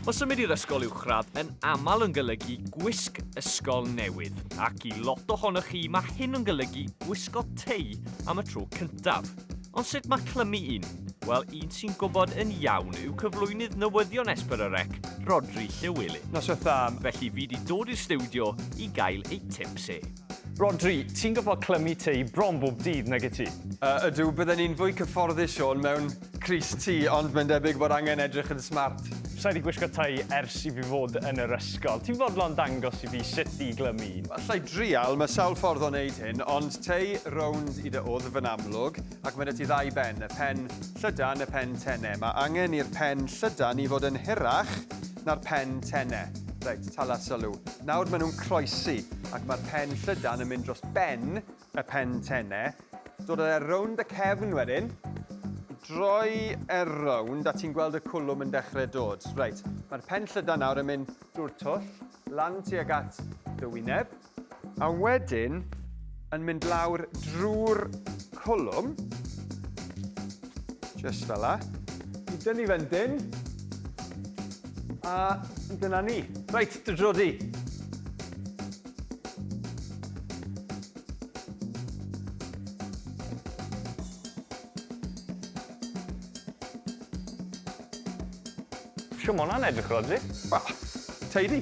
O symud i'r ysgol uwchradd yn aml yn golygu gwisg ysgol newydd, ac i lot ohonoch chi mae hyn yn golygu gwisgo tei am y tro cyntaf. Ond sut mae clymu un? Wel, un sy'n gwybod yn iawn yw cyflwynydd newyddion Esper yr Ec, Rodri Llywelyn. Noswaith dda. Felly fi di dod i'r stiwdio i gael ei tips e. Rodri, ti'n gorfod clymu tei bron bob dydd, nag i ti? Yy, ydw, bydden i'n fwy cyfforddus, Siôn, mewn Crys ti, ond mae'n debyg bod angen edrych yn smart. Sa i wedi gwisgo tai ers i fi fod yn yr ysgol. Ti'n fodlon dangos i fi sut i glymu un? Alla i drial, mae sawl ffordd o wneud hyn, ond tei rownd i dy wddf yn amlwg, ac mae 'da ti ddau ben, y pen llydan, y pen tene. Mae angen i'r pen llydan i fod yn hirach na'r pen tene. Reit, tala sylw. Nawr maen nhw'n croesi, ac mae'r pen llydan yn mynd dros ben y pen tenne, dod â fe rownd y cefn wedyn, droi e rownd a ti'n gweld y cwlwm yn dechrau dod. Reit, mae'r pen llydan nawr yn mynd drwy'r twll, lan tuag at dy wyneb, a wedyn yn mynd lawr drwy'r cwlwm, just fel la. I dynnu fe'n dyn, a dyna ni. Reit, dy drodi. Shw ma' wnna'n edrych Rhodri? Wel, tidy.